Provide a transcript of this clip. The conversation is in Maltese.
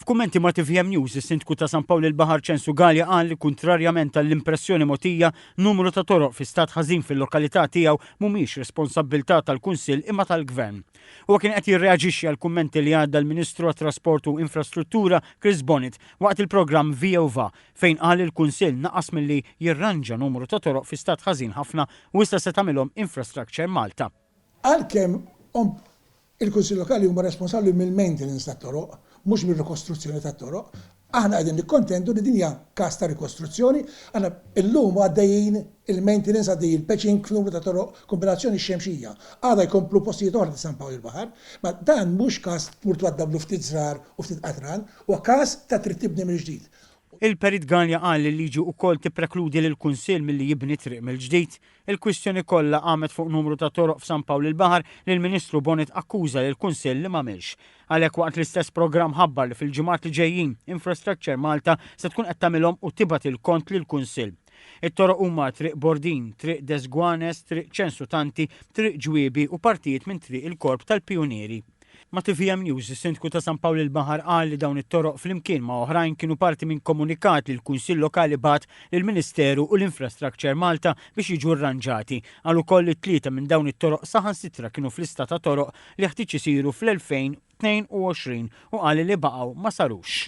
F'kummenti ma' tvm News, is-Sindku ta' San Pawl il-Baħar Ċensu Galea qal li kuntrarjament għall-impressjoni mogħtija, numru ta' toroq fi stat ħażin fil-lokalità tiegħu mhumiex responsabbiltà tal-Kunsill imma tal-Gvern. Huwa kien qed jirreaġixxi għall-kummenti li għadda l-Ministru għat-Trasport u Infrastruttura Chris Bonnitt waqt il-programm VOVA fejn qal li l-Kunsill naqas milli jirranġa numru ta' toroq fi stat ħażin ħafna u issa se tagħmilhom Infrastructure Malta. Għalkemm il-Kunsill Lokali huma responsabbli mill-maintenance tat-toroq, mhux mir-rikostruzzjoni tat-toroq, aħna qegħdin nikkontendu li din hija każ ta' rikostruzzjoni. Aħna llum għaddejjin il-maintenance, għaddej il-patching f'numru ta' toroq, kombinazzjoni x-Xemxija. Għada jkomplu postijiet oħra ta' San Pawl il-Baħar. Ma dan mhux każ tmur twaddablu ftit żrar u ftit qatran, huwa każ ta' trid tibni mill-ġdid. Il-Perit Galea qal li l-liġi wkoll tipprekludi lill-Kunsill milli jibni triq mill-ġdid. Il-kwistjoni kollha qamet fuq numru ta' toroq f'San Pawl il-Baħar li l-Ministru Bonett akkuża lill-Kunsill li m'għamilx. Għalhekk waqt l-istess programm ħabbar li fil-ġimgħat li ġejjin Infrastructure Malta se tkun qed tagħmilhom u tibgħat il-kont lill-Kunsill. It-toroq huma Triq Bordin, Triq Desguanes, Triq Censu Tanti, Triq Ġwiebi u partijiet minn Triq il-Korp tal-Pijunieri. Ma' tvm News, is-Sindku ta' San Pawl il-Baħar qal li dawn it-toroq flimkien ma' oħrajn kienu parti minn komunikat li l-Kunsill Lokali bagħat lill-Ministeru u l-Infrastructure Malta biex jiġu rranġati. Qal ukoll li tlieta minn dawn it-toroq saħansitra kienu f'lista ta' toroq li jeħtieġ isiru fl-2022 u qal li baqgħu ma sarux.